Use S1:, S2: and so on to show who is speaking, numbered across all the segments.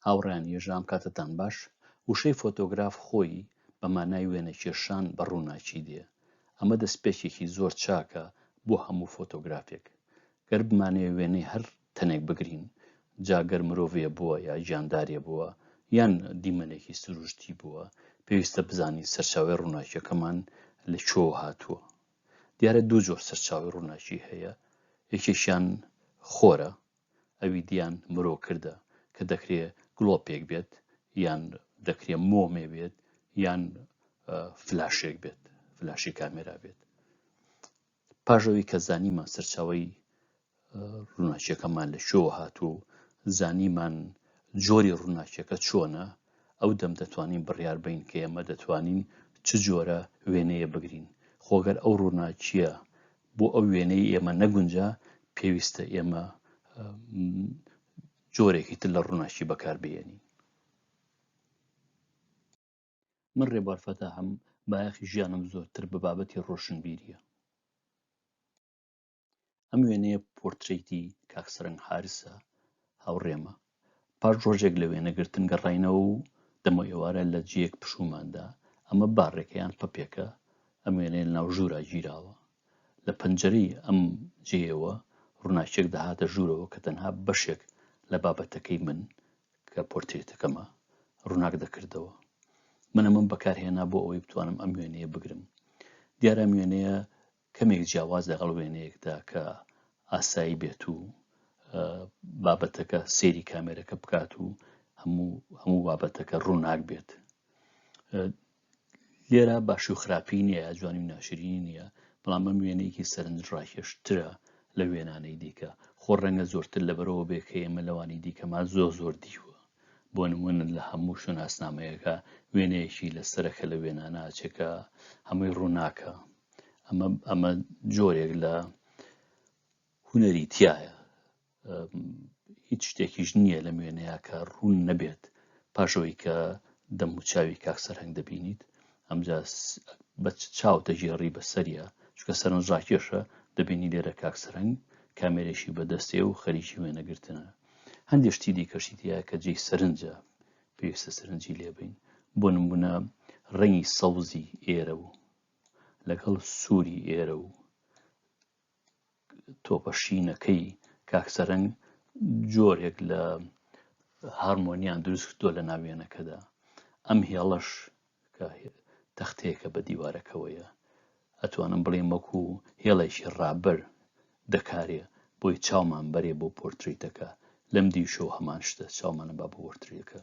S1: هاوڕێیان یەژدان کاتتان باش، وشەی فۆتۆگراف خۆی بە مانای وێنەکێشان بە ڕووناکی دێ، ئەمە دەسپێکێکی زۆر چاکە بۆ هەموو فۆتۆگرافێک. گەر بمانەوێ وێنەی هەر تەنێک بگرین، جا گەر مرۆڤێ بووە یا گیاندارێ بووە یان دیمەنێکی سروشتی بووە، پێویستە بزانین سەرچاوەی ڕووناکیەکەمان لە کوێوە هاتووە. دیارە دوو جۆر سەرچاوەی ڕووناکی هەیە، یەکێکیان خۆرە، ئەوی دیان مرۆ کردە کە دەکرێ گڵۆپێک بێت یان دەکرێ مۆمێ بێت یان فلاشێک بێت فلاشی کامێرا بێت پاژەوەی کە زانیمان سەرچاوی ڕووناچیەکەمان لە شۆ هاتوو و زانیمان جۆری ڕووناچیەکە چۆنە ئەو دەم دەتوانین بڕیار بین کە ئێمە دەتوانین چ جۆرە وێنەیە بگرین خۆگەر ئەو ڕووناچیە بۆ ئەو وێنەی ئێمە نەگونجا پێویستە ئێمە جۆرێکی تر لە ڕووناکی بەکار بێنین من ڕێبوار فەتا هەم بایەخی ژیانم زۆرتر بە بابەتی ڕۆشنبیریە ئەم وێنەیە پۆرتریتی کاکسەرنگ حارسە هاوڕێمە پاش ڕۆژێک لە وێنەگرتن گەڕاینەوە و دەمەوئێوارە لە جێیەک پشوومان دا، ئەمە باڕێکە یان پەپێکە، ئەم وێنەیە لە ناو ژوورا گیراوە. لە پەنجەرەی ئەم جێیەوە ڕووناکییەک دەهاتە ژوورەوە کە تەنها بەشێک لە بابەتەکەی من کە پۆرترێتەکەمە، ڕووناک دەکردەوە. من ئەمەم بەکارهێنا بۆ ئەوەی بتوانم ئەم وێنەیە بگرم. دیارە ئەم وێنەیە کەمێک جیاواز لەگەڵ وێنەیەکدا کە ئاسایی بێت و بابەتەکە سێری کامێرەکە بکات و هەموو هەموو بابەتەکە ڕووناک بێت لێرە باشی و خراپی نییە جوانی و ناشرینی نییە بەڵام بەم وێنەیەکی سەرنج ڕاکێشترە لە وێنانەی دیکە خۆ ڕەنگە زۆرتر لەبەرەوە بێ کە ئێمە لەوانی دیکەمان زۆر زۆر دیوە بۆ نمونن لە هەموو شوناسنامەیەەکە وێنەیەکی لە سەرەکە لە وێناناچێکە هەمووی ڕووناکە ئەمە ئەمە جۆرێک لە هوەری تایە هیچ شتێکیش نییە لە نوێنەیە کە ڕوون نەبێت پاشەوەی کە دەم و چاوی کاک سەرهنگ دەبینیت ئەمجا بە چاو دەگێڕی بە سەریە چکە سەرنج ڕاکێشە دەبینی لێرە کاک سەرنگ کامێرێکی بەدەستێ و خەریکی وێنەگرتنە هەندێک شتی دیکەشی دیە کە جێی سەرنجە پێویستە سەرنجی لێبین بۆ نمونە ڕەنگی سەوزی ئێرە و لەگەڵ سووری ئێرە و تۆپە شینەکەی کاک سەرەنگ جۆرێک لە هارمۆنیان دروست کردووە لە ناوێنەکەدا ئەم هێڵەش کە تەختەیەکە بە دیوارەکەوەیە ئەتوانم بڵێم وەکو هێڵێکی ڕابەر دەکارێ بۆی چاومان بەرێ بۆ پۆرتریتەکە لەم دیشەوە هەمان شتە چاومانە با بۆ پۆرتریەکە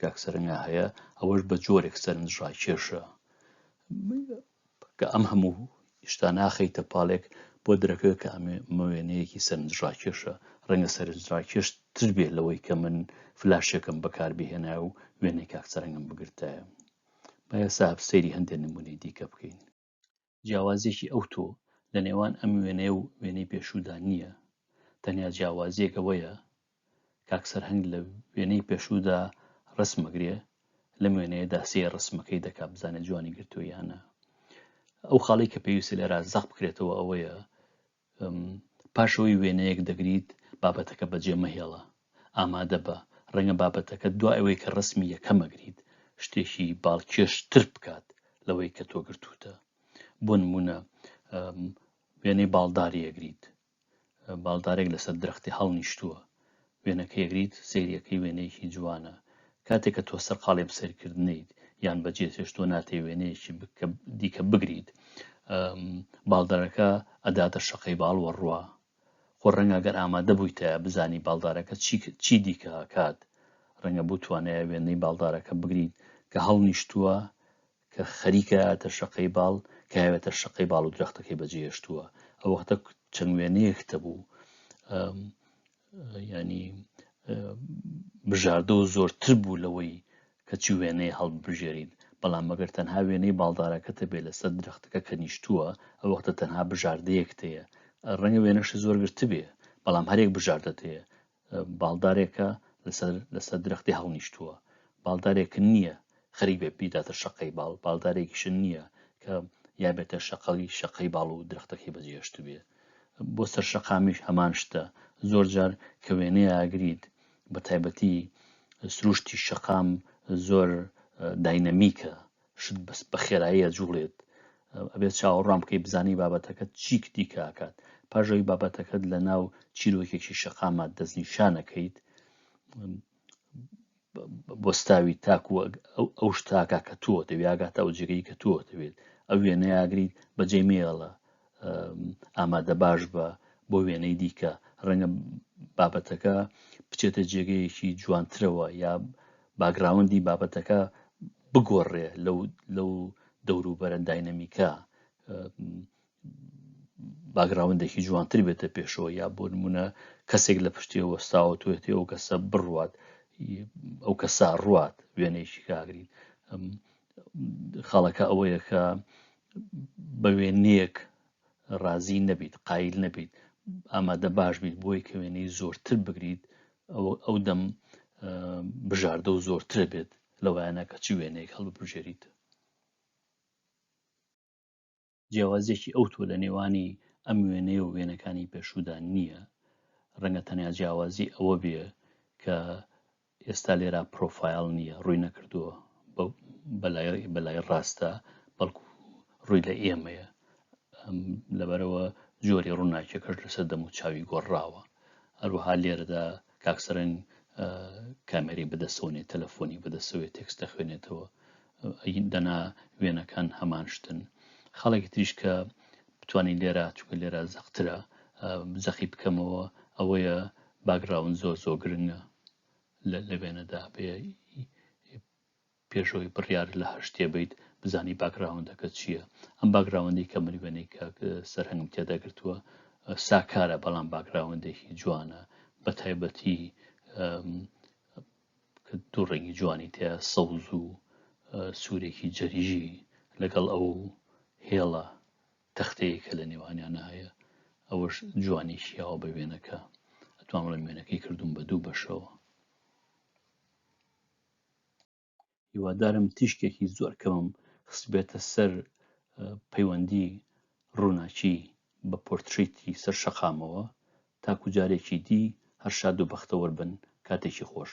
S1: کاک سەرەنیا هەیە ئەوەش بە جۆرێک سەرنج ڕاکێشە کە ئەم هەموو شتا ناخەیتە پاڵێک بۆ درەکە کە ئەمێ مەوێنەیەکی سەرنج ڕاکێشە ڕەنگە سەرنج ڕاکێش تر بێ لەوەی کە من فلاشێکم بەکار بهێنای و وێنەی کاک سەرەنگم بگرتایە بایە ساب سەیری هەندێک نمونەی دیکە بکەین جیاوازیەکی ئەوتۆ لە نێوان ئەم وێنەیە و وێنەی پێشوودا نییە، تەنیا جیاوازیەک ئەوەیە کاک سەرهەنگ لە وێنەی پێشوودا ڕسم ئەگرێ لەم وێنەیەدا سێ ڕسمەکەی دەکا بزانێت جوانی گرتوویانە ئەو خاڵی کە پێویستە لێرا زەق بکرێتەوە ئەوەیە پاش ئەوەی وێنەیەک دەگریت، بابەتەکە بەجێ مەهێڵە. ئامادە بە، ڕەنگە بابەتەکەت دوای ئەوەی کە ڕەسمی یەکەم ئەگریت، شتێکی باڵکێشتر بکات لەوەی کە تۆ گرتووتە. بۆ نموونە، وێنەی باڵداری ئەگریت. باڵدارێک لەسەر درەختی هەڵنیشتووە. وێنەکە یەگریت سەیریەکەی وێنەیەکی جوانە کاتێک کە تۆ سەرقاڵی بسەرکردنیت یان بەجێ تێشتۆ ناتێ وێنەیەکی دیکە بگریت باڵدارەکە ئەداتە شەقەی باڵ وەڕوە خۆ ڕەنگە گەر ئامادە بوویتە بزانی باڵدارەکە چی دیکە کات ڕەنگە بوو توانایە وێنەی باڵدارەکە بگریت کە هەڵنیشتووە کە خەریکە ئەتە شەقەی باڵ کاوێتە شەقەی باڵ و درەختەکەی بەجێهێشتووە ئەو وەختە چەند وێنەیەک هەبوو ینی بژاردە و زۆرتر بوو لەوەی کەچی وێنەی هەڵبژێرین بەڵام مەگەر تەنها وێنەی باڵدارەکەتە بێ لەسەر درەختەکە کە نیشتووە ئەو وەختە تەنها بژاردەیەک تەیە ڕەنگە وێنەشی زۆر گرتبێ بەڵام هەرێک بژاردە تەیە باڵدارێکە لەسەر لەسەر درەختی هەڵنیشتووە باڵدارێک نییە خەریک بێ پیداتە شەقەی باڵ باڵدارێکیشن نییە کە یا بێتە شەقەڵی شەقەی باڵ و درختەکەی بەجێشت بێ بۆ سەر شەقامیش هەمان شتە زۆر جار کە وێنەیە ئاگریت بە تایبەتی سروشتی شەقام زۆر داینەمیکە شت بەس بە خێرایی ئەجوڵێت ئەبێت چاوەڕوان بکەی بزانی بابەتەکەت چیک دیکە ئاکات پاژەوی بابەتەکەت لە ناو چیرۆکێکی شەقامات دەستنیشانەکەیت بۆستاوی تاکو ئەو شتاکە کە تۆ دەویاگاتە ئەو جێگەی کە تۆ دەوێت ئەو وێنەیاگریت بەجێ مێڵە ئامادە باش بە بۆ وێنەی دیکە ڕەنگە بابەتەکە بچێتە جێگەیەکی جوانترەوە یا باگراوەندی بابەتەکە بگۆڕێ لەو لەو دەوروبەرە داینەمیکە باگراوندێکی جوانتر بێتە پێشەوە یا بۆ نمونە کەسێک لە پشتێەوە ساوە توێتی ئەو کەسە بڕوات ئەو کەسا ڕوات وێنێکی کاگرین خاڵەکە ئەوەیە کە بە وێنەیەک ڕازی نەبیت قایل نەبیت ئامادە باش بیت بۆی کە وێنەی زۆرتر بگریت ئەوە ئەو دەم بژاردە و زۆرتر بێت لەوانە کە چی وێنەیەک هەڵبژێریت جیاوازیەکی ئەوتۆ لە نێوانی ئەم وێنەیە و وێنەکانی پێشودا نییە ڕەنگە تەنیا جیاوازی ئەوە بێ کە ئێستا لێرا پرۆفایل نییە ڕووی نەکردووە بەلای ڕاستە بەڵکو ڕووی لە ئێمەیە لەبەرەوە جۆری ڕووناکیەکەش لەسەر دەم و چاوی گۆڕراوە هەروەها لێرەدا کاک سەرنج کامێرەی بەدەسەوەێ تەلەفۆنی بەدەسەوەێ تێکس دەخوێنێتەوە دەنا وێنەکان هەمان شتن خەڵێکی تریش کە بتانی لێرە چکە لێرە زەقترە زەخی بکەمەوە ئەوەیە باگراون زۆر زۆر گرنگە لە لەوێنەدا پێ پێش ئەوەی بڕیار لە هەر شتێ بەیت بزانی باکگراوندەکەت چییە، ئەم باکگراوندەی کە من وێنەی کاک سەرهەنگم تێدا گرتووە ساکارە بەڵام باکگراوندێکی جوانە بە تایبەتی کە دوو ڕەنگی جوانی تێ سەوز و سوورێکی جەریژی لەگەڵ ئەو هێڵە تەختەیە کە لە نێوانیانە هەیە ئەوەش جوانی شیاوە بە وێنەکە ئەتوانڵە وێنەکەی کردوم بە دوو بەشەوە هیوادارم تیشکێکی زۆر کەمم خستبێتە سەر پەیوەندی ڕووناکی بە پۆرتریتی سەر شەقامەوە تاکو جارێکی دی هەر شاد و بەختەوەر بن کاتێکی خۆش